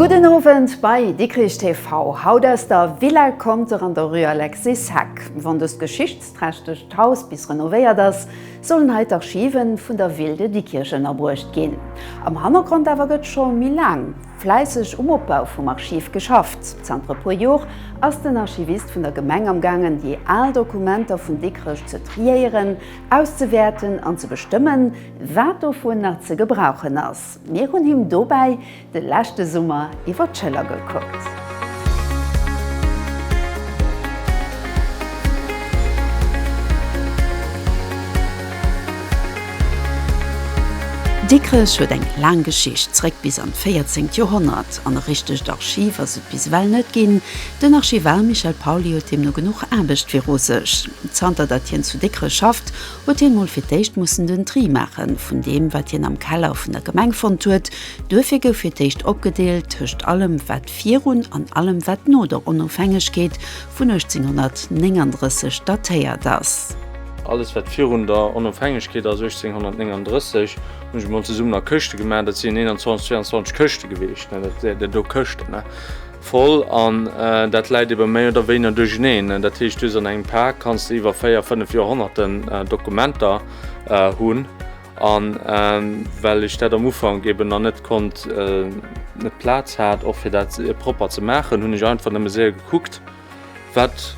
Gudden Owend bei Dikrich TV. Haut aus der Villa Conter an der Rue Alexis Hack. Wann des Geschicht. Prächteg d'Haus bis renovéiert ass, sollen hei d'Archive vun der Ville de Dikkirch ënnerbruecht ginn. Am Hannergrond awer gëtt scho méi laang fläisseg um Opbau vum Archiv geschafft. Zanter e puer Jor ass den Archivist vun der Gemeng am gaangen, déi al Dokumenter vun Dikrech ze triéieren, auszewäerten an ze bestëmmen, wat dovun nach ze gebrauchen ass. Mir hunn him dobäi de leschte Summer iwwer d'Schëller gekuckt. Dikrech huet eng laang Geschicht, zréck bis an d'véierzengt Joerhonnert, an e richtegt Archiv ass et bis ewell net ginn. Den Archivar Michel Pauly huet deemno genuch Aarbecht viru sech. Zanter datt hien zu Dikrech schafft, huet hien mol fir d'éischt mussen den Tri maache vun deem, wat hien am Keller vun der Gemeng fonnt huet. Duerfir gouf fir d'éischt opgedeelt tëscht allem, wat virun an allem, wat no der Onofhängegkeet vun 1839 datéiert ass. Alles, wat virun der Onofhängegkeet ass, 1839, hunn ech emol zesummen a Këschte gemaach. Dat sinn 21, 22 Këschte gewiescht, net dat där do Këschten. Voll, an dat läit ebe méi oder wéiner duercheneen. Dat heescht, du hues an engem Pak kanns de iwwer véier, fënnef Joerhonnerten Dokumenter hunn. A well ech dat am Ufank eben nach net konnt, net d'Plaz hat och fir dat propper ze maachen, hunn ech einfach nëmme séier gekuckt, wat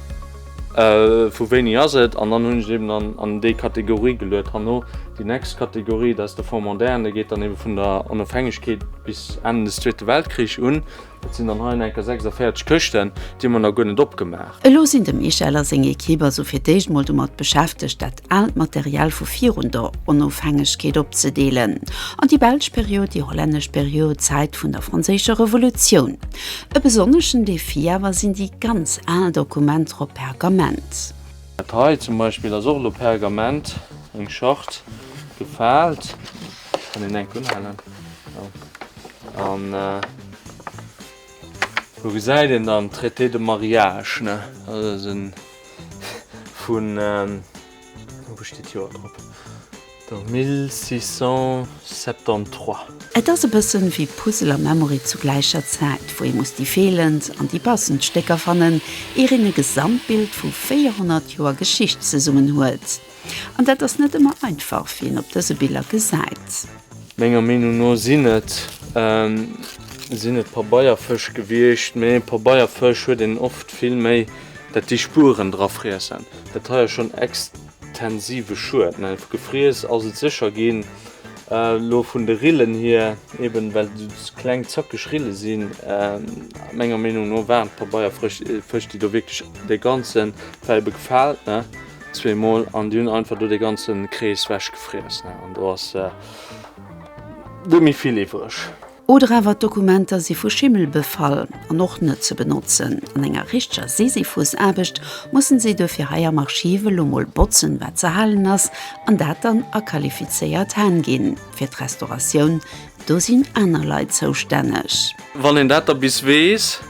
vu wéini ass et, an dann hunn ech et eben an déi Kategorie geluet. Herno déi nächst Kategorie, dat ass de Fonds moderne, geet dann ebe vun der Onofhängegkeet bis Enn des Zweete Weltkrich un. Et sinn dann hei an enker 46 Këschten, déi hu mer nach guer net opgemaach. Elo sinn de Michel a seng Ekipp also fir d'éischt mol domat beschäftegt, dat aalt Material vu virun der Onofhängegkeet opzedeelen an déi belsch Period, déi hollännesch Period, d'Zäit vun der franséischer Revolutioun. E besonneschen Defi awer sinn déi ganz al Dokumenter op Pergament. Dat hei zum Beispill ass och elo Pergament, eng Charte, gefaalt. Ech kann den enk unhalen. An do gesäit een dann Traité de Mariage, ne? Also dat ass en vun, wou steet d'Joer drop? Do 1673. Et ass e bëssen wéi Puzzle a Memory zu gläicher Zäit, wou ee muss déi feelend an déi passend Stécker fannen, ier een e Gesamtbild vu 400 Joer Geschicht zesummenhuelt. An dat ass net ëmmer einfach, wéi een op dëse Biller gesäit. Menger Meenung no sinn et sinn et Pabeierfësch gewiescht, mee Pabeierfësch huet een oft vill méi, dat déi Spueren dra friessen. Dat hei ass schonn extensive Schued, mä gefriess ass et sécher ginn. Elo vun de Rillen hier, eben well et kleng zackeg Rille sinn, menger Meenung no waren d'Pabeierfrësch Fësch, déi do wierklech de ganze well befaalt, ne? zwee mol an déi hunn einfach do dee ganzen Krees wech gefriess ne an do ass net méi vill iwwreg. Oder awer d'Dokumenter si vu Schimmel befall an och net ze benotzen. An enger richteger Sisyphusaarbecht mussen si duerfir hei am Archiv elo mol botzen wat ze halen ass an dat dann a qualifizéiert Hänn ginn. Fir d'Restauratioun do sinn aner Leit zoustänneg. Wann een dat da bis weess.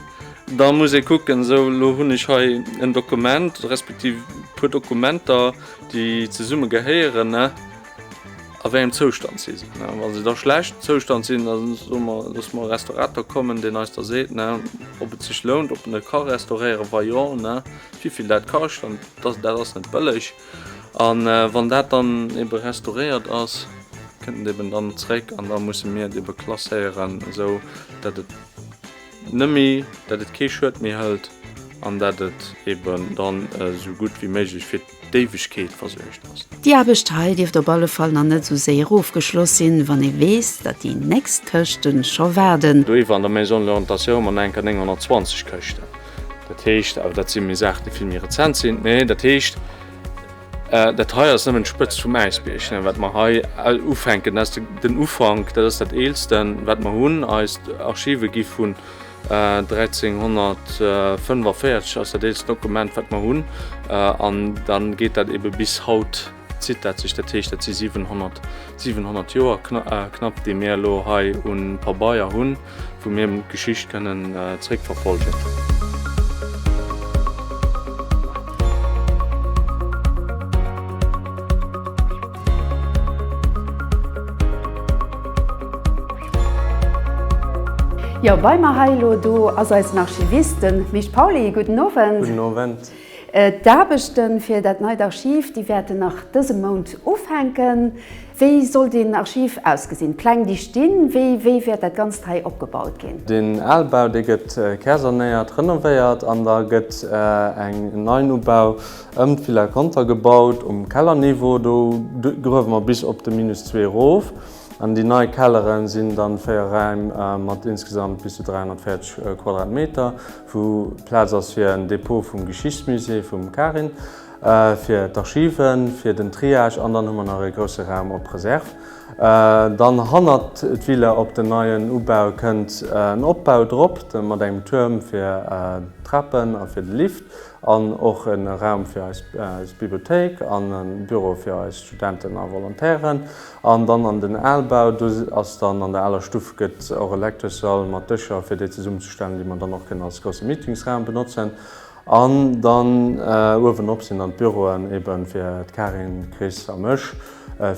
Da muss ee kucken, esou elo hunn ech hei en Dokument, respektiv e puer Dokumenter, déi zesumme gehéieren, a wéi engem Zoustand si se. Wa se da schlecht Zoustand sinn, da soe mer, loosse mer e Restaurator kommen, deen eis da seet, ob et sech lount, ob en e ka restauréieren, wa jo, wivill dat kascht, an dat ass net bëlleg. A wann dat dann ebe restauréiert ass, kënnt et eben dann zréck an da musse mir et ebe klasséieren, esou datt et. Nëmme dat et kee Schued méi hëlt an dat et eben dann esou gutt wéi méiglech fir d'Éiwegkeet versuergt ass. Déi Aarbecht hei dierft op alle Fall nach net esou séier ofgeschloss sinn, wann ee weess, datt déi nächst Këschte scho waarden. Do iwwer an der Maison de l'Orientation hu mer nach enker 920 Këschten. Dat heescht, awer dat si méi Saachen, déi vill méi rezent sinn, mä dat heescht, Dat hei ass nëmmen d'Spëtzt vum Äisbiergchen, wat mer hei ufänken. Dat ass den Ufank, dat ass dat Eelsten, wat mer hunn. Eis Archive gi vun 1345, ass dat eelst Dokument, wat mer hunn. An da geet dat ebe bis haut, zitt dat sech. Dat heescht, dat si 700 Joer knapp, déi mir elo hei u Pabeier hunn. wou mir d'Geschicht kënnen zréckverfolgen. Jo, bei mer hei elo do ass eisen Archivist, den Mich Pauly. Gudden Owend. Gudden Owend. D'Aarbechte fir dat neit Archiv, déi wäerten nach dëse Mount ufänken. Wéi soll den Archiv ausgesinn? D'Pläng, déi stinn. Wéi wäert dat Ganzt hei opgebaut ginn? Den Albau, dee gëtt kärsanéiert, renovéiert an da gëtt eng Neinubau ëm d'Villa Conter gebaut. Um Kellerniveau, do gruewe mer bis op de Minus zwee erof an déi nei Kellere sinn dann véier Räim mat insgesamt bis zu 340 Quadratmeter. Vu Plaz ass fir en Depot vum Geschichtsmusée vum Karin, fir d'Archiven, fir den Triage an dann hu mer nach e grousse Raum op Reserve. Dann hannert d'Villa op den neien Ubau kënnt en Opbau drop mat engem Tuerm fir d'Trapen a fir de Lift an och e Raum fir eis Bibliothéik an e Büro fir eis Studenten a Volontairen. An dann an den Albau, do ass dann an der aler Stuff gëtt och e Lecteurssall mat Dëscher fir déi zesummenzestellen, déi mer dann och kënnen als grousse Meetingsraum benotzen. An dann uewenop sinn dann d'Büroen ebe fir d'Karin, d'Chris a mech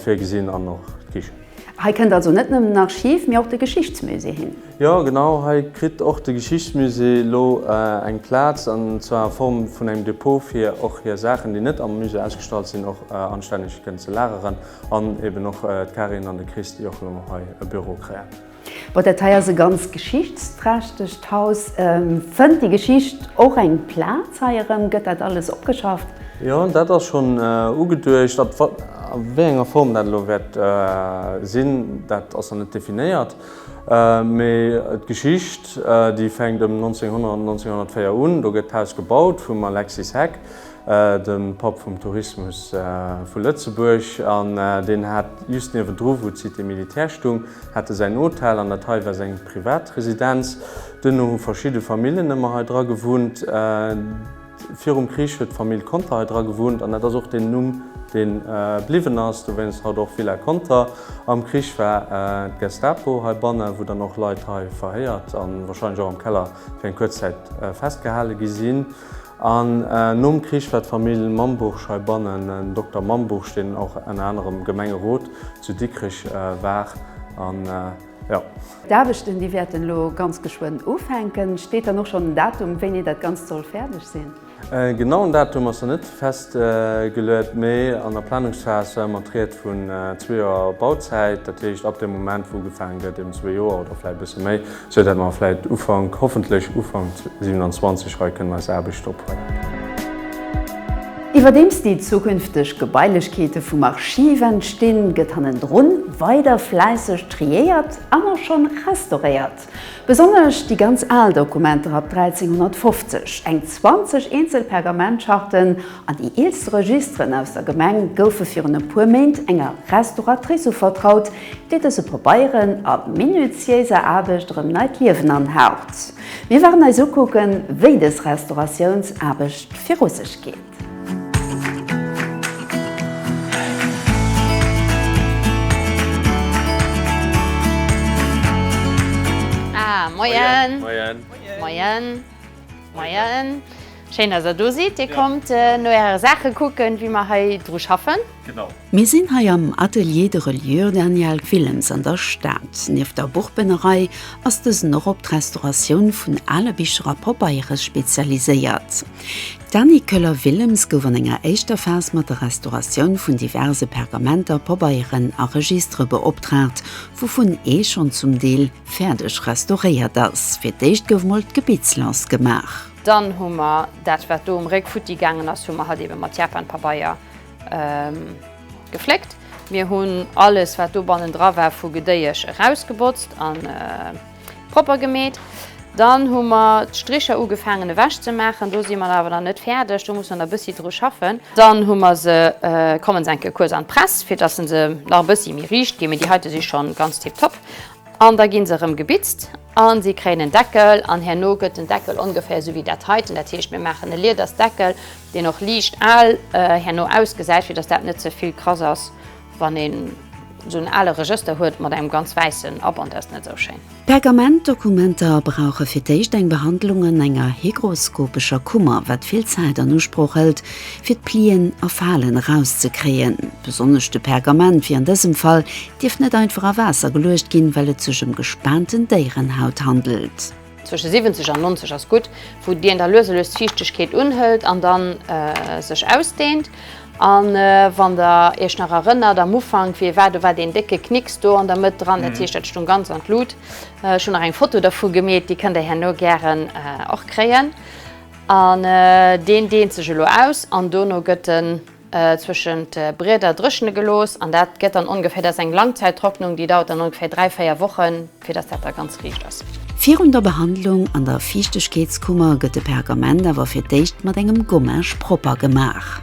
virgesinn an och d'Kichen. Hei kënnt also net nëmmen en Archiv, mee och de Geschichtsmusée hin. Jo genau, hei kritt och de Geschichtsmusée elo eng Plaz, an zwar a Form vun engem Depot fir och hir Saachen, déi net am Musée ausgestallt sinn, och anstänneg kënnen ze lageren. An eben och d'Karin an de Chris, déi och elo nach hei e Büro kréien. Bon, dat hei ass e ganz geschichtsträchtegt Haus. Fënnt déi Geschicht och eng Plaz hei erëm? Gëtt dat alles opgeschafft? Jo, dat ass schonn ugeduecht. A wéi enger Form dat elo wäert sinn, dat ass nach net definéiert. Mee d'Geschicht, déi fänkt ëm 1900, 1904 un. Do gëtt d'Haus gebaut vum Alexis Heck. de Papp vum Tourismus vu Lëtzebuerg, an deen hat just niewendru, wou d'Cité militaire stung, hat e säin Hotel an dat hei war seng Privatresidenz. Duerno hu verschidde Famillen ëmmer hei dra gewunnt. Virum Krich huet d'Famill Conter hei dra gewunnt an dat ass och den Numm, dee bliwwen ass, dowéinst haut och Villa Conter. Am Krich war d'Gestapo heibanne, wou dann och Leit hei verhéiert a warscheinlech och am Keller fir eng kuerz Zäit festgehale gi sinn. An nom Krich war d'Famill Mambuch heibannen. Den Dokter Mambuch, deen och ënner anerem Gemengerot zu Dikrech war an jo. D'Aarbechten, déi wäerten elo ganz geschwënn ufänken. Steet dann och schonn en Datum, wéini dat Ganzt soll fäerdeg sinn? E genauen Datum ass nach net festgeluet, mee an der Planungsphas war ëmmer d'Ried vun zwee Joer Bauzäit. Dat heescht, ab dem Moment, wou ugefaange gëtt, eben zwee Joer oder vläicht e bësse méi. Sou dat mer vläit Ufank, hoffentlech Ufank 27 hei kënnen eis Aarbecht ophuelen. Iwwerdeems déi zukünfteg Gebailechkeete vum Archiv entstinn, gëtt hannendrun weider fläisseg triéiert an och schonn restauréiert. Besonnesch déi ganz al Dokumenter ab 1350, eng 20 eenzel Pergamentscharten, An déi eelste Registeren aus der Gemeng goufe virun e puer Méint enger Restauratrice uvertraut, déi dëse Pabeieren a minutiéiser Aarbecht erëm neit Liewen anhaucht. Mir waren eis ukucken, wéi dës Restauratiounsaarbecht viru sech geet. Moien! Moien! Moien! Moien! Schéin dass der do sidd, dir kommt no äre Saache kucken wéi mer hei dru schaffen. Mir sinn hei am Atelier de Reliure Daniel Willems an der Stad. Nieft der Buchbënnerei ass dësen och op d'Restauratioun vun ale Bicher a Poppeiere spezialiséiert. D'Dany Koeller-Willems gouf an enger éischter Phas mat der Restauratioun vun diverse Pergamenter, Pobeieren a Registere beoptraagt, wouvun ee schonn zum Deel fäerdeg restauréiert ass. Fir d'éischt gouf mol d'Gebittslëns gemaach. Dann hu mer dat, wat do um Réck futti gaangen ass, hu mer hatt eebe mat Japanpabeier gefléckt. Mir hunn alles, wat do bannendra war, vu Gedéiesch erausgebotzt a propper gemeet. Dann hu mer d'Stricher ugefaangen ewech ze maachen. Do si mer awer nach net fäerdeg, do muss mer nach e bëssi dru schaffen. Dann hu mer se, kommen se enke kuerz an d'Press, fir dass se nach e bëssi méi riicht ginn, mee déi heite si scho ganz tiptop. An da gi se erëm gebitzt. A si kréien en Deckel an herno gëtt den Deckel ongeféier esou wéi dat heiten. Dat heescht, mir maachen e Liedersdeckel, deen och liicht al herno ausgesäit, fir datt dat net ze vill krass ass. Wann een esou en ale Regëster huet mat engem ganz wäissen Aband, dat ass net esou schéin. Pergamentdokumenter brauche fir d'éischt eng Behandlung an enger hygroskopescher Kummer, wat vill Zäit an Usproch hëlt, fir d'Plien a Falen erauszekréien. Besonnesch de Pergament wier an dësem Fall Dierf net einfach a Waasser geluecht ginn, well et sech ëm gespaanten Déierenhaut handelt. Zwësche 70 an 90 ass gutt, wou d'Bien da lues a lues d'Fiichtegkeet unhëlt an da sech ausdehnt. A wann Der Iech nach erënnert, am Ufank, wéi e war, do war deen décke Knicks do an der Mëtt dran, dat heescht, dat stoung ganz an d'Lut. Ech hunn nach eng Foto dervu gemeet, déi kënnt Der herno gären och kréien. An deen dehnt sech elo aus an dono gëtt en. zwëschent Brieder dréchene gelooss an dat gëtt dann ongeféier, dat ass eng Langzäittrocknung, déi dauert dann ongeféier 3, 4 Wochen, fir dass dat da ganz riicht ass. Virun der Behandlung an der Fiichtegkeetskummer gëtt de Pergament awer fir d'éischt mat engem Gommage propper gemaach.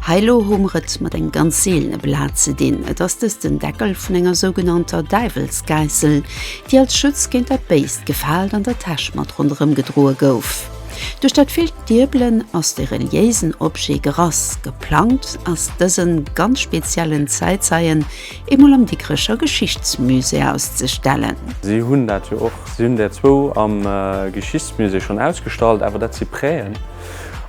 Hei elo hu mer et mat engem ganz seelene Blat ze dinn, et ass dëst den Deckel vun enger sougenannter Däiwelsgäissel, déi als Schutz géint dat Béist gefaalt an der Täsch mat ronderëm gedroe gouf. Duerch dat villt Diebelen ass de reliéisen Objet gerass. Geplangt ass dësen ganz speziellen Zäitzeien eemol am Dikrecher Geschichtsmusée auszestellen. Si hunn dat jo och, si hunn där zwou am Geschichtsmusée schonn ausgestallt, awer dat si Präen.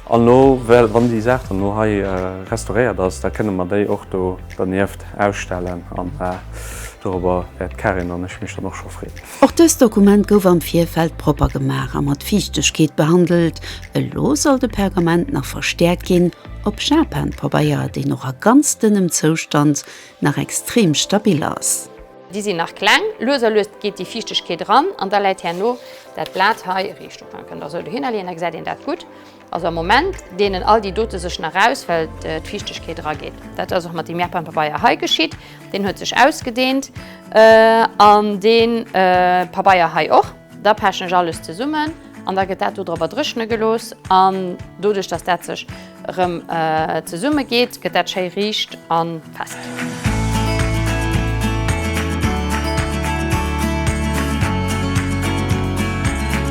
An elo, wann déi Saach dann elo hei restauréiert ass, da kënne mer déi och do dernieft ausstellen. An dorobber wäert d'Karin an ech mech dann och scho freeën. Och dëst Dokument gouf am Virfeld propper gemaach a mat Fiichtegkeet behandelt. Elo soll de Pergament nach verstäerkt ginn, op Japanpabeier, deen och a ganz dënnem Zoustand nach extrem stabil ass. Déi sinn nach kleng. Lues a lues geet déi Fiichtegkeet eran an da läit herno dat Blat hei riicht op. Dann kënnt der esou dohinner leeën, da gesäit een dat gutt. Also am Moment deenen all déi dote sech nach aus, well d'Fiichtegkeet erageet. Dat ass och mat deem Japan-Pabeier hei geschitt. Deen huet sech ausgedeent an dee Pabeier hei och. Da pechen ech alles zesummen an da gëtt dat do drop erdréchne gelooss. An doduerch, dass dat sech erëm zesummegeet, gëtt dat schéi riicht a fest.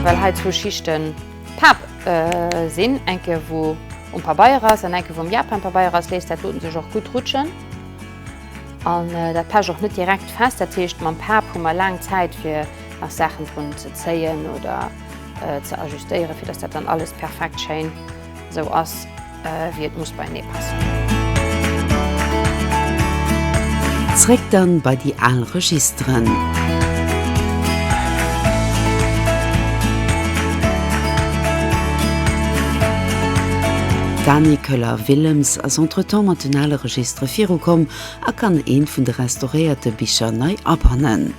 Well hei zwou Schichten. D'Faarf sinn enke wou um Pabeier ass an enke wou um Japan Pabeier ass, léisst dat doten sech och gutt rutschen an dat pecht och net direkt fest. Dat heescht mam Faarf hu mer laang Zäit fir nach Saachen drun ze zéien oder ze ajustéieren, fir datt dat dann alles perfekt schéin esou ass. Wéi et muss beienee passen. Zréck dann bei déi al Registeren. D'Dani Köller-Willems ass entretemps mat den ale Registere virukomm a kann eent vun de restauréierte Bicher nei abannen.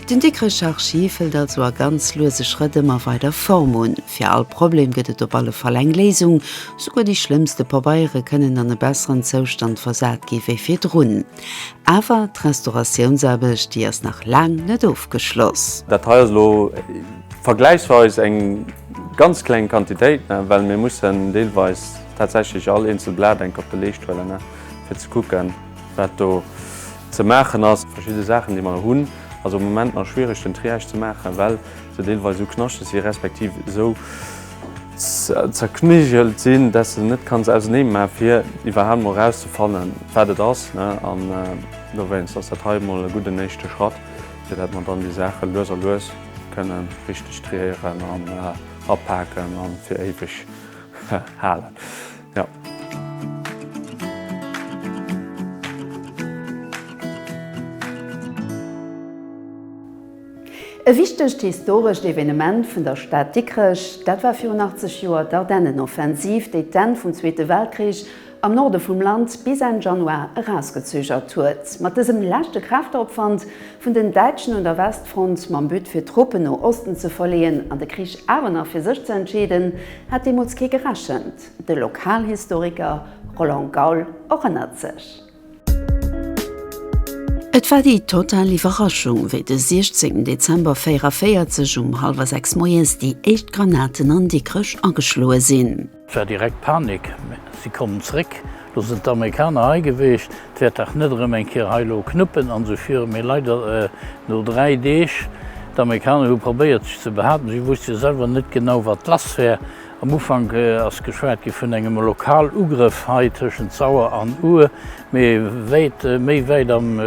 Den Dikrech Archiv hëlt also a ganz luese Schrëtt ëmmer weider Form un. Fir all Problem gëtt et op alle Fall eng Léisung. Souguer déi schlëmmste Pabeiere kënnen an e besseren Zoustand versat gi wéi virdrun. Awer d'Restauratiounsaarbecht, déi ass nach laang net ofgeschloss. Dat hei ass elo vergläichsweis eng ganz kleng Quantitéit, well mir mussen deelweis tatsächlech all eenzel Blat enk op de Leescht huelen, fir ze kucken, wat do. Ze maachen ass. Verschidde Saachen déi mer hunn ass am Moment nach schwiereg den Triage ze maachen, well se deelweis esou knaschteg si respektiv esou zerknigelt sinn, dat s de net kanns ausernee maachen fir iwwerhaapt emol erauszefannen wat et ass. An dowéinst ass dat hei emol e gudden éischte Schratt, fir dat mer dann déi Saache lues a lues kënnen richteg triéieren an apaken an fir éiweg halen. Ja. E wichtegt historescht Evenement vun der Stad Dikrech, dat war virun 80 Joer d'Ardennenoffensiv, déi d'Enn vum Zweete Weltkrich am Norde vum Land bis Enn Januar erausgezögert huet. Mat dësem leschte Kräfteopwand Vun den Däitschen un der Westfront mam But fir Truppen no Osten ze verleeën an de Krich awer nach fir sech ze entscheeden, hat deemools kee gerechent. De Lokalhistoriker Roland Gaul erënnert sech. Et war déi total Iwwerraschung, wéi de 16 Dezember 44 um hallwer 6 moies déi éischt Granaten an Dikrech ageschloe sinn. Et war direkt Panik, mä si kommen zréck. Lo sinn d'Amerikaner hei gewiescht, 't wäert dach net erëm eng Kéier hei elo knuppen an esou virun, mee leider no dräi Deeg. D'Amerikaner hu probéiert sech ze behaten, si wusste jo selwer net genau wat lass wär. Am Ufank ass geschwat gi vun engem Lokalugrëff hei tëschent Sauer an Our, mee wäit méi wäit am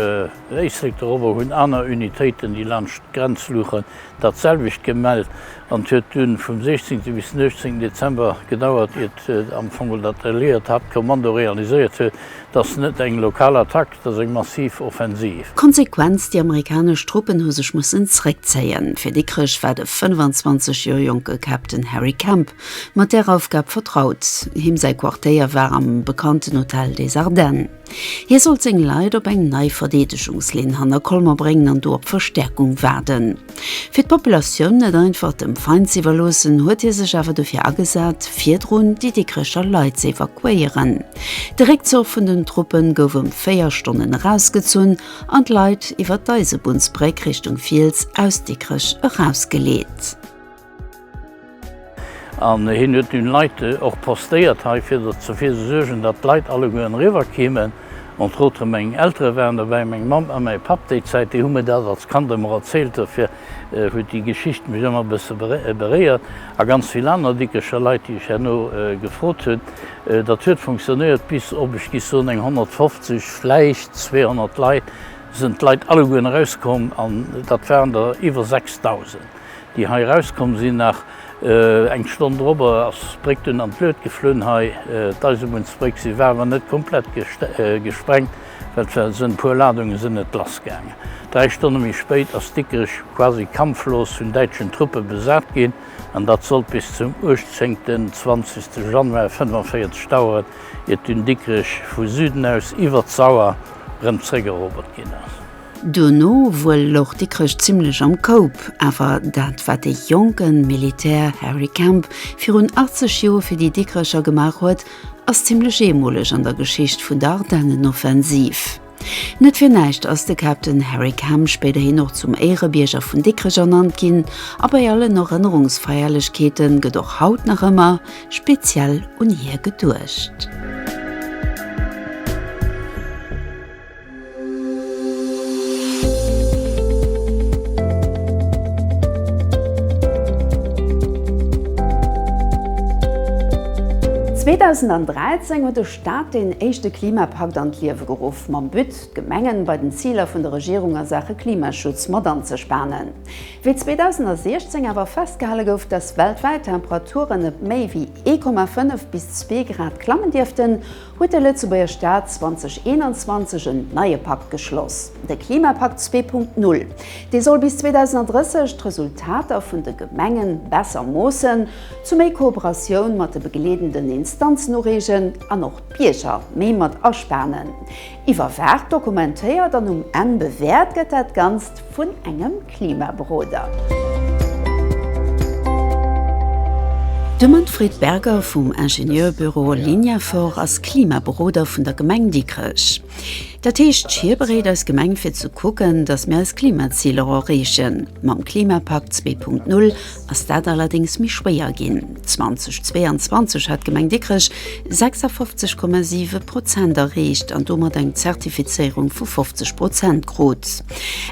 Éislek doropper hunn aner Unitéiten, déi laanscht d'Grenzluuche dat selwecht gemellt. An 't huet dunn vum 16 bis den 18 Dezember gedauert iert am Fong geholl dat alliéiert Haaptkommando realiséiert huet, dass net eng lokal Attack, dass eng massiv Offensiv. Konsequenz, Déi amerikanesch Truppen hu sech mussen zréckzéien. Fir Dikrech war de 25 Joer jonke Captain Harry Kemp mat där Aufgab vertraut. Him säi Quartéier war am bekannten Hotel des Ardennes. Hie sollt seng Leit op eng nei Verdeedegungslinn hanner Colmer bréngen an do op Verstäerkung waarden. Fir d'Populatioun net einfach dem Feind z'iwwerloossen, huet hie sech awer dofir agesat, virdrun déi Dikrecher Leit z'evakuéieren. De Réckzuch vun den Truppe gouf ëm véier Stonnen erausgezunn an d'Leit iwwer d'Eisebunnsbréck Richtung Fiels aus Dikrech erausgeleet. An hien huet dunn Leit och postéiert hei, fir derfir ze suergen, datt d'Leit allegueren eriwwer keemen. Entre autres meng Eltere waren dobäi, meng Mamm a mäi Papp déi Zäit. Déi hu mir dat als Kand ëmmer erzielt, dofir huet déi Geschicht mech ëmmer e bësse beréiert. A ganz vill aner Dickecher Leit, déi ech herno gefrot hunn. Dat huet funktionéiert bis op, ech gi soen, eng 150, vläicht 200 Leit, sinn d'Leit allegueren erauskomm, an dat waren der iwwer 6000. déi hei erauskomm sinn, nach eng Stonn drop ass d'Bréck dunn an d'Lued geflunn hei. D'Eisebunnstbréck si war awer net komplett gesprengt, well et war sënn e puer Ladunge sënn net lass gaangen. Dräi Stonne méi spéit ass Dikrech quasi kampflos vun däitschen Truppe besat ginn an dat sollt bis zum 18.20 Januar 45 daueren, iert dunn Dikrech vu Süden aus iwwer d'Sauer erëm zréckerobert ginn ass. Duerno wuel louch Dikrech zimlech am Koup, awer dat wat de jonke Militär Harry Kemp virun 80 Joer fir déi Dikrecher gemaach huet, ass zimlech eemoleg an der Geschicht vun der Ardennenoffensiv. Net fir näischt ass de Captain Harry Kemp spéiderhin och zum Éierebierger vun Dikrech ernannt ginn a bei allen Erënnerungsfeierlechkeete gëtt och haut nach ëmmer speziell un hie geduecht. 2013 huet de Staat deen éischte Klimapakt an d'Liewe geruff, mam But, d'Gemengen bei den Ziler vun der Regierung a Saache Klimaschutz mat anzespanen. Wéi 2016 awer festgehale gouf, dass weltwäit d'Temperaturen net méi wéi 1,5 bis zwee Grad klammen dierften, huet de Lëtzebuerger Staat 2021 en neie Pakt geschloss, de Klimapakt 2.0. Dee soll bis 2030 d'Resultater vun de Gemengen besser moossen, zu méi Kooperatioun mat de begleedenden Instanzen ureegen an och d'Bierger méi mat aspanen. Iwwerwaacht, dokumentéiert an um Enn bewäert gëtt dat Ganzt vun engem. Klimaberoder. De Manfred Berger vum Ingenieurbüro Lignafor ass Klimaberoder vun der Gemeng Dikrech. Dat heescht, hie bereet eis Gemeng fir ze kucken, datt mir eis Klimaziler erreechen. Mam Klimapakt zwee Punkt Null ass dat allerdéngs méi schwéier ginn. 2022 hat d'Gemeng Dikrech 56,7 Prozent erreecht an domat eng Zertifizéierung vu 50 Prozent krut.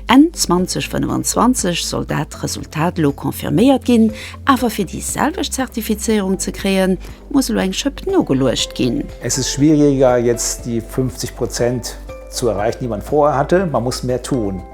Enn 2025 soll dat Resultat elo confirméiert ginn, awer fir déi selwecht Zertifizéierung ze kréien, muss elo eng Schëpp nogeluecht ginn. Es ist schwieriger, jetzt die 50 Prozent zu erreichen, die man vorher hatte. Man muss mehr tun.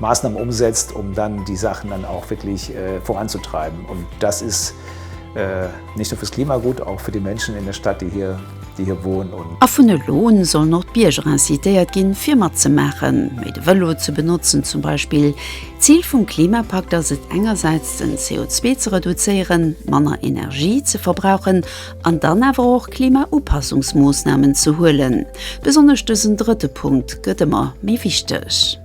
Maßnahmen umsetzt, um dann die Sachen dann auch wirklich äh, voranzutreiben. Und das ist äh, nicht nur fürs Klima gut, auch für die Menschen in der Stadt, die hier, die hier wohnen. Und A vun elo un sollen och d'Bierger incitéiert ginn, fir matzemaachen, méi de Vëlo ze benotzen zum Beispill. D'Zil vum Klimapakt ass et engersäits, den CO2 ze reduzéieren, manner Energie ze verbrauchen an dann awer och Klimaupassungsmoosnamen ze huelen. Besonnesch dësen drëtte Punkt gëtt ëmmer méi wichteg.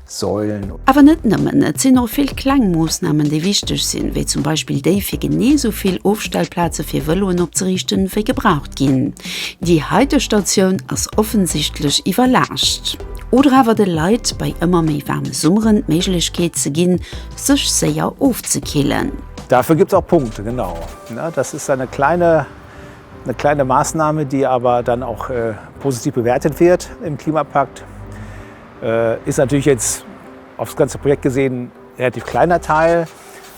Säulen. Awer net nëmmen, et sinn och vill kleng Moossnamen, déi wichteg sinn, wéi zum Beispill déi, fir genee esou vill Ofstellplaze fir Vëloen opzeriichten, wéi gebraucht ginn. Déi heite Statioun ass offensichtlech iwwerlaascht. Oder awer de Leit bei ëmmer méi waarme Summeren d'Méiglechkeet ze ginn, sech séier ofzekillen. Dafür gibt es auch Punkte, genau. Das ist eine kleine, eine kleine Maßnahme, die aber dann auch positiv bewertet wird im Klimapakt. Ist natürlich jetzt aufs ganze Projekt gesehen relativ kleiner Teil,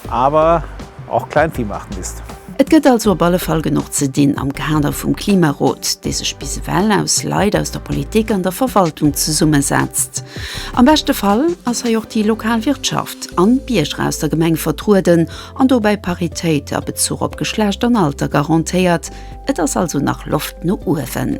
aber auch Kleinvieh macht Mist. Et gëtt also op alle Fall genuch ze dinn am Kader vum Klimarot, dee sech bis ewell aus Leit aus der Politik an der Verwaltung zesummesetzt. Am beschte Fall ass hei och déi lokal Wirtschaft an d'Bierger aus der Gemeng vertrueden an dobäi Paritéit a Bezuch op Geschlecht an Alter garantéiert. Et ass also nach Loft no uewen.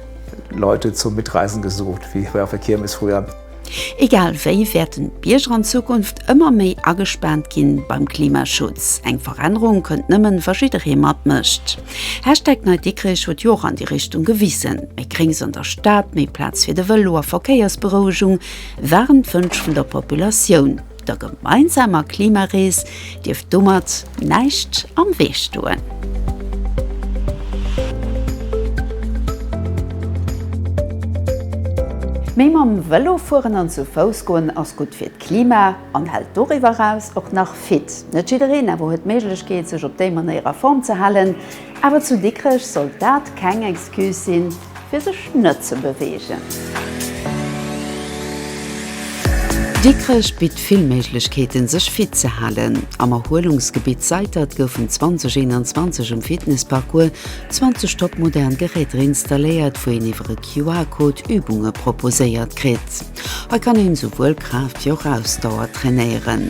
Leute zum Mitreisen gesucht, wie bei auf der Kirmes früher. Egal wéi wäerten d'Bierger an Zukunft ëmmer méi agespaant ginn beim Klimaschutz. Eng Verännerung kënnt nëmmen wa jidderee matmécht. Hashtag NeiDikrech huet jo och an déi Richtung gewissen. Méi Gréngs an der Stad, méi Plaz fir de Vëlo a Verkéiersberouegung waren d'Wënsch vun der Populatioun. Der gemeinsamer Klimarees dierft domat näischt am Wee stoen. Mee mam Vëlo fueren an zu Fouss goen ass gutt fir d'Klima an hält doriwwer eraus och nach fit. Net jiddereen awer huet d'Méiglechkeet, sech op déi Manéier a Form ze halen. Awer zu Dikrech sollt dat keng Excuse sinn. fir sech net ze beweegen. Dikrech bitt vill Méiglechkeeten, sech fit ze halen. Am Erhuelungsgebitt Seitert goufen 2021 um Fitnessparcours 20 top modern Geräter installéiert, wou een iwwer e QR-Code Übunge proposéiert kritt. Hei kann een souwuel Kraaft wéi och Ausdauer trainéieren.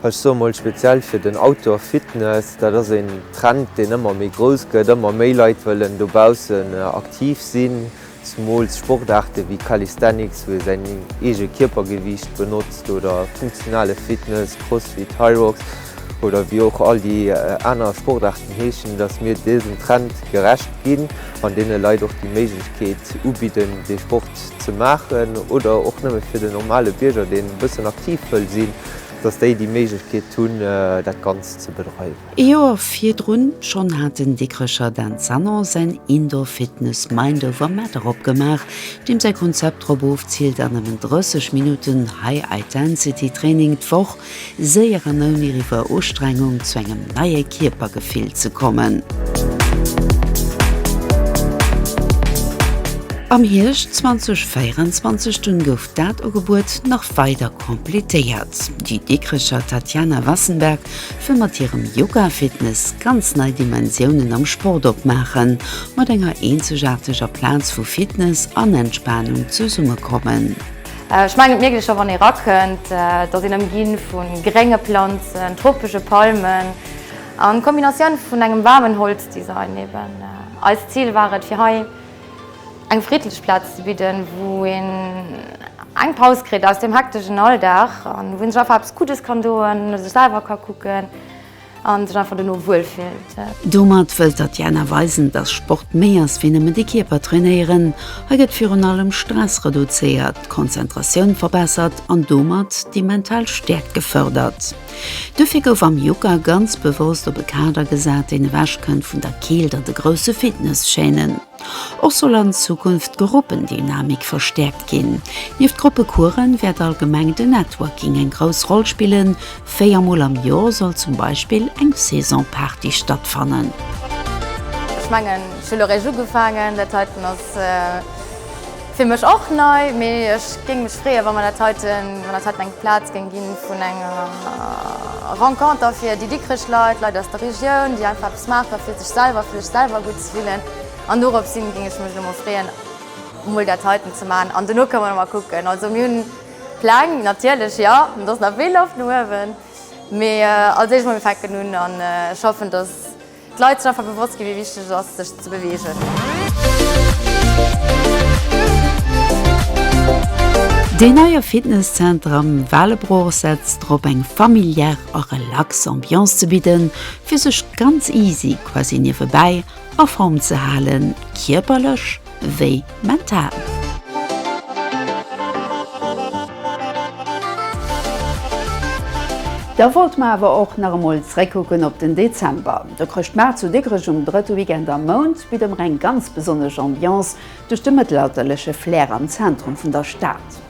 Ech soe mol speziell fir den Outdoor Fitness, dat ass een Trend, deen ëmmer méi grouss gëtt. Ëmmer méi Leit wëllen dobaussen aktiv sinn, zemools Sportaarte wéi Calisthenics, wou ee säin eege Kierpergewiicht benotzt, oder funktionale Fitness, Crossfit, Hyrox oder wéi och all déi aner Sportaarten heeschen, datt mir dësem Trend gerecht ginn an deene Leit och déi Méiglechkeet ubidden, dee Sport ze maachen. Oder och nëmme fir den normale Bierger, deen e bëssen aktiv wëll sinn. dass déi déi Méiglechkeet hunn, dat Ganzt ze bedreiwen. Ee Joer virdrun schonn hat den Dikrecher Dan Sanon säin Indoor Fitness Mind Over Matter opgemaach, deem säi Konzept drop ofziilt, an nëmmen 30 Minutten High-Itensity Training d'Woch séier an ouni riwuer Ustrengung zu engem neie Kierpergefill ze kommen. Am Hierscht 2024 dunn gouf Dat Ugebuet nach weider completéiert. Déi Dikrecher Tatjana Wassenberg wëll mat hirem Yoga Fitness ganz nei Dimensiounen am Sport opmaachen, mat enger eenzegaarteger Plaz wou Fitness an Entspanung zesummekommen. Ech mengen d'Mierglecher wann ee rakënnt, dass een ëmginn vu grénge Planzen, tropesche Palmen an Kombinatioun vun engem waarmen Holzdesign eben. Eist Zil war et fir hei Eng friddlech Plaz ze bidden, wou een eng Paus kritt aus dem hektegen Alldag an wou een sech einfach eppes Guddes kann doen, no sech selwer ka kucken an sech einfach dono wuel fillt. Domat wëllt d'Tatjana weisen, dass Sport méi ass wéi nëmmen de Kierper trainéieren. Hei gëtt virun allem Stress reduzéiert, d'Konzentratioun verbessert an domat déi mental Stäerkt gefërdert. Dofir gouf am Yucca ganz bewosst op e Kader gesat, deen ewechkënnt vun der Keelt an de grousse Fitness-Chaînen. Och soll an Zukunft d'Gruppendynamik verstäerkt ginn. Nieft Gruppecoursen wäert allgemeng de Networking eng grouss Roll spillen, véier Mol am Joer soll zum Beispill eng Saison-Party stattfannen. Ech mengen ech hu lo réischt ugefaangen, dat heiten ass. Fir mech och nei, mee ech géing mech freeën wann mer dat heiten, wann dat heiten eng Plaz géing ginn vun enger Renconter fir déi Dikrech Leit, Leit aus der Regioun, déi einfach eppes maache fir sech selwer, fir sech selwer gutt ze fillen an dorops hin géing ech mech elo mol freeën mol dat heiten ze maachen an dono kënne mer mol kucken. Also mir hunn Pläng natierlech, jo, an et ass nach vill Loft no uewen, mee als éischt mol mir fänken un an ech hoffen dass, D'Leit sinn einfach bewosst ginn, wéi wichteg et ass, sech ze beweegen. Deen neie Fitness-Zenter am Waalebroch setzt drop, eng familiär a relax Ambiance ze bidden, fir sech ganz easy quasi niewebäi a Form ze halen, kierperlech, wéi mental. Da wollte mer awer och nach emol zréckkucken op den Dezember. De Chrëschtmaart zu Dikrech um drëtte Weekend am Mount bitt emmer eng ganz besonnesch Ambiance duerch de mëttelalterleche Flair am Zentrum vun der Stad.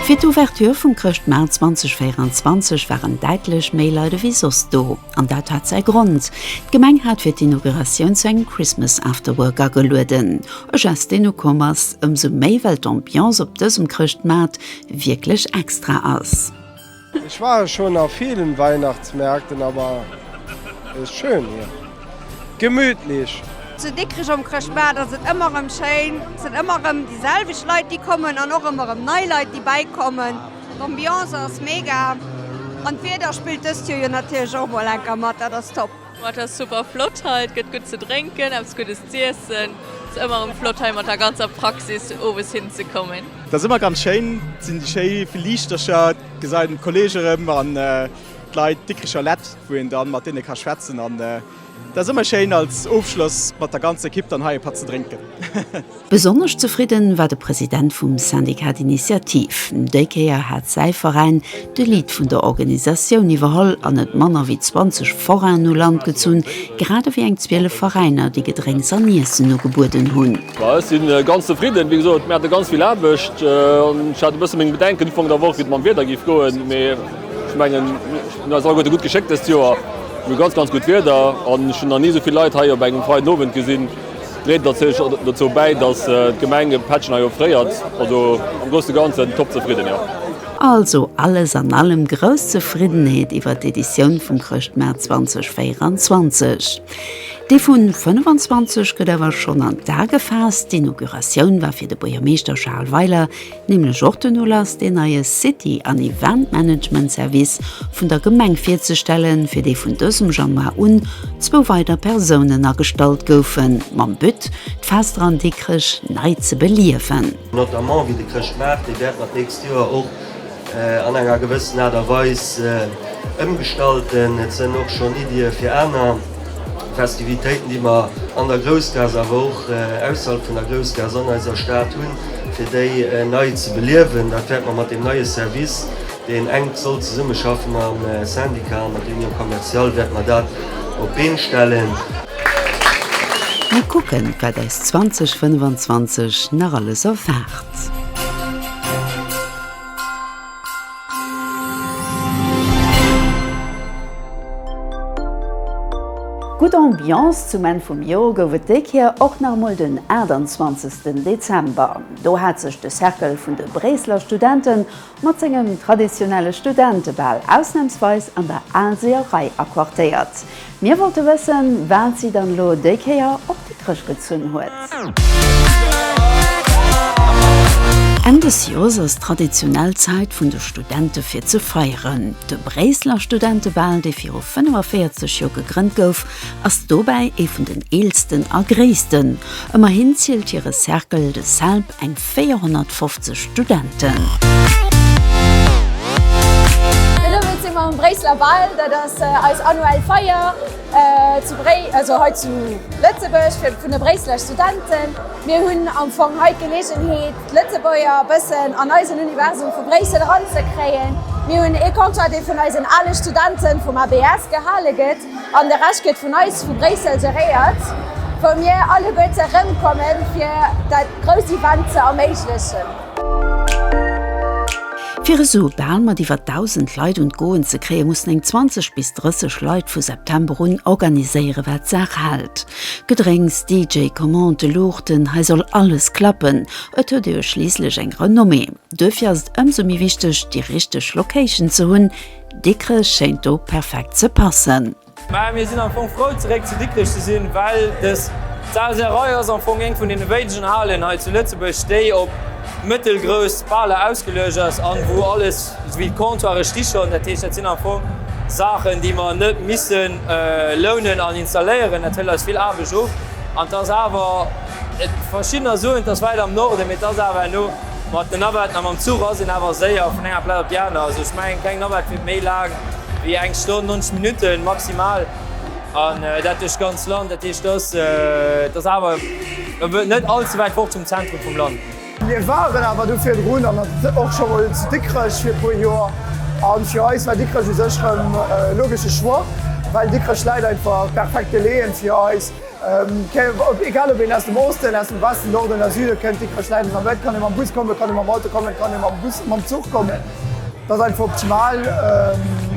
Fir d'Ouverture vum Chrëschtmaart 2024 waren däitlech méi Leit ewéi soss do. An dat hat säi Grond, D'Gemeng hat fir d'Inauguratioun zu engem Christmas After Work agelueden. E Gest deen ukomm ass, ëmsou méi well d'Ambiance op dësem Chrëschtmaart wierklech extra ass. Ech war schon a vielen Weihnachtsmärkten, aber es ist schön hier. gemütlich. Zu Dikrech um Chrëschtmaart ass et ëmmer erëm schéin, et sinn ëmmer erëm déi selwecht Leit déi kommen an och ëmmer erëm nei Leit déi bäikommen. D'Ambiance ass mega an d'Wieder spillt dëst Joer jo natierlech och mol enker mat, dat ass top. Boah et ass super flott hei, et gëtt gutt ze drénken, eppes Guddes z'iessen. Et ass ëmmer erëm flott hei mat der ganzer Praxis owes hin ze kommen. Et ass ëmmer ganz schéin, et sinn déi schéi vill Liichtercher, et gesäit een d'Kolleege rëm an. D'Leit Dikricher Lett, wou een dann mat deene ka schwätzen an dat ass ëmmer schéin als Ofschloss mat der ganzer Ekipp dann hei e Patt ze drénken. Besonnesch zefridden war de President vum Syndicat d'Initiative. Déi Kéier hat säi Veräin de Lead vun der Organisatioun iwwerholl an net manner wéi 20 Forainen u Land gezunn, grad ewéi eng 12 Veräiner, déi Gedrénks an Iessen ugebueden hunn. Ech si ganz zefridden. Wéi gesot, mir hate ganz vill Aarbecht an ech hat e bësse meng Bedenken Ufank der Woch, wéi et mam Wieder géif goen. Ech mengen, ech hunn eis alleguerte gutt geschéckt dëst Joer. Mir hu ganz, ganz gutt Wieder an ech hunn nach ni esou vill Leit hei op engem freien Owend gesinn. Dréit natierlech och dozou bäi, dass d'Gemeng e Pättchen hei offréiert. Also am Grousse Ganzen top zefridden, jo. Also alles an allem grouss Zefriddenheet iwwert d'Editioun vum Chrëschtmaart 2024. Dee vu 25 gëtt awer schonn an d'A gefaasst. D'Inauguratioun war fir de Buergermeeschter Charles Weiler. nämlech och den Ulass deen neie City an Event Management Service vun der Gemeng virzestellen, fir dee vun dësem Januar un zwou weider Persounen agestallt goufen, mam But d'Fester an Dikrech nei ze beliewen. Notamment wéi de Chrëschtmaart, dee wäert mat d'nächst Joer och an enger gewëssen Aart a Weis ëmgestalten. Et sënn och schonn Iddie fir aner. Festivitéiten, déi mer an der Groussgaass, awer och ausserhalb vun der Groussgaass an eiser Stad hunn, fir déi nei ze beliewen. Dat wäerte mer mat deem neie Service, deen enk soll zesummeschaffen mam Syndicat an mat der Union Commerciale, wäerte mer dat op d'Been stellen. Mir kucken, wat eis 2025 nach alles erwaart. Gutt Ambiance zum Enn vum Joer gouf et déi Kéier och nach emol den 28 Dezember. Do hat sech de Cercle vun de Bréisseler Studente mat sengem traditionelle Studentebal ausnamsweis an der Aalseer Rei aquartéiert. Mir wollte wëssen, wat si dann elo déi Kéier op Dikrech gezunn huet. Enn des Joers ass traditionell d'Zäit vun de Studente fir ze feieren. De Bréisseler Studentebal, dee viru 45 Joer gegrënnt gouf, ass dobäi ee vun den eelsten a gréissten. Ëmmerhin zielt hire Cercle de Selb eng. 450 Studenten. Jo domat si mer um Bréisseler Bal. Dat ass eis annuell Feier zu Bréi, also hei zu Lëtzebuerg fir vun de Bréisseler Studenten. Mir hunn am Fong hei d'Geleegenheet d'Lëtzebuerger e bëssen an eisen Universum vu Bréissel eranzekréien. Mir hunn ee Concert dee vun eisen ale Studenten vum ABS gehale gëtt. An de Rescht gëtt vun eis vu Bréissel geréiert, wou mir alleguerte erëmkommen, fir dat grousst Event ze erméiglechen. Fir esou bal mat iwwer 1.000 Leit un d'Goen ze kréien, mussen eng 20 bis 30 Leit vu September un organiséieren, wat d'Saach hält. Gedrénks, DJ, Commandë, Luuchten, hei soll alles klappen, et huet ee jo schliisslech eng Renommée. Duerfir ass et ëmsou méi wichteg, déi richteg Location ze hunn, Dikrech schéint do perfekt ze passen. Mä mir sinn am Fong frou zeréck zu Dikrech ze sinn, well des Zalserei ass am Fong eng vun deene wéinegen Halen hei zu Lëtzebuerg, déi op mëttelgrouss Baler ausgeluecht ass an wou alles esouwéi d'Comptoire sti schonn. Dat heescht, dat sinn am Fong Saachen, déi mer net missen lounen an installéieren. Dat hëlt eis vill Aarbecht of an 't ass awer, et verschiddener soen, 't ass wäit am Norden, mee 't ass awer herno, Mat den Navetten a mam Zuch ass een awer séier vun enger Plaz op déi aner. Also ech mengen, eng kleng Navette wier méi laang wéi eng Stonn, 90 Minutten maximal. An dat duerch d'ganz Land. Dat heescht, dass dass awer net all ze wäit fort vum Zentrum vum Land. Mir waren awer do virdrun an och scho mol zu Dikrech fir e puer Joer. A fir eis war Dikrech u sech rëm e logesche Choix, well Dikrech läit einfach perfekt geleeën fir eis. Egal ob een aus dem Osten, aus dem Westen, Norden oder Süden kënnt, Dikrech, Schläiwen an Wëld, kann ee mam Bus kommen, kann ee mam Auto kommen, kann ee mam Bus, mam Zuch kommen. Dat ass einfach optimal.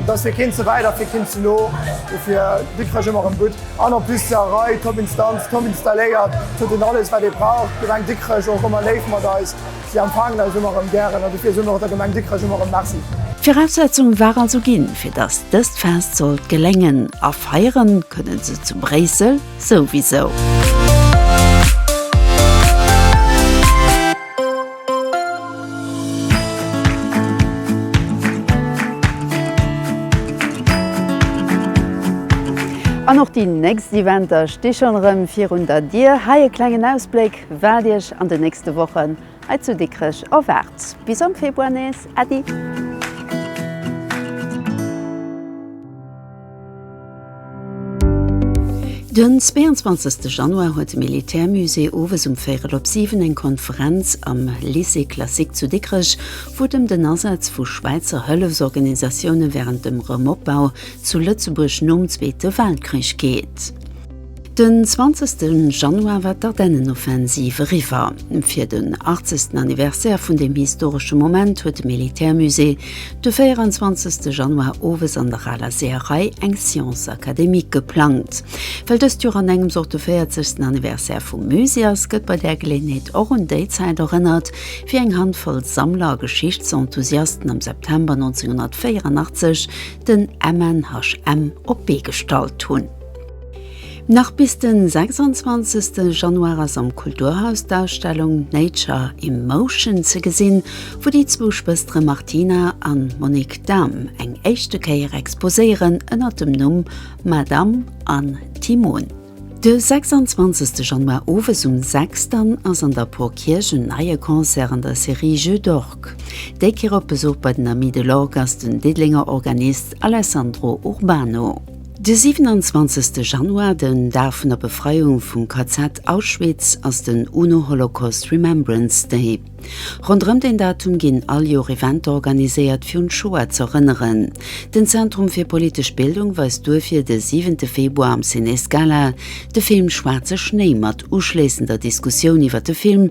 Dat ass fir keen ze wäit a fir keen ze no. Dofir Dikrech ëmmer erëm gutt. An en plus zur Arei, Top Instanz, top installéiert, huet een alles wat ee brauch. D'Gemeng Dikrech och ëmmer léif mat eis. Si empfaangen eis ëmmer erëm gären a dofir soen mer och der Gemeng Dikrech ëmmer erëm Merci. D'Viraussetzung war also ginn, fir datt dëst Fest sollt geléngen, a feieren kënnen se zu Bréissel souwisou. An och déi nächst Eventer sti schonn erëm virun der Dier. Hei e klengen Ausbléck. Wat iech an de nächste Wochen hei zu Dikrech erwaart. Bis am Februar nees. Äddi! Den 22 Januar huet de Militärmusée owes um Véirel op 7 eng Konferenz am Lycée classique zu Dikrech, wou et ëm den Asaz vu Schwäizer Hëllefsorganisatioune wärend dem Rëmopbau zu Lëtzebuerg nom Zweete Weltkrich geet. Den 20 Januar war d'Ardennenoffensiv eriwwer. Fir den 80. Anniversaire vun deem historesche Moment huet de Militärmusée de 24 Januar owes an der aler Seeërei eng Séance académique geplangt. Well dëst Joer an engems och de 40. Anniversaire vum Musée ass, gëtt bei där Geleeënheet och un déi Zäit erënnert, wéi eng Handvoll Sammler a Geschichtsenthusiasten am September 1984 den MNHM op d'Bee gestallt hunn. Nach bis den 26 Januar ass am Kulturhaus d'Ausstellung Nature in Motion ze gesinn, wou déi zwou Schwëstere Martina an Monique Dahm eng éischte Kéier exposéieren ënnert dem Numm Madame an Timon. De 26 Januar owes um 6 dann ass an der Porkierch en neie Concert an der Serie Jeux d'orgue. Déi Kéier op Besuch bei den Amis de l'orgue ass den Diddelenger Organist Alessandro Urbano. De 27 Januar, den Dag vun der Befreiung vum KZ Auschwitz, ass den UNO-Holocaust Remembrance Day. Ronderëm deen Datum ginn all Joer Eventer organiséiert fir un d'Shoah z'erënneren. Den Zentrum fir politesch Bildung weist duerfir de siwente Februar am Ciné Scala de Film Schwaarze Schnéi mat uschléissender Diskussioun iwwer de Film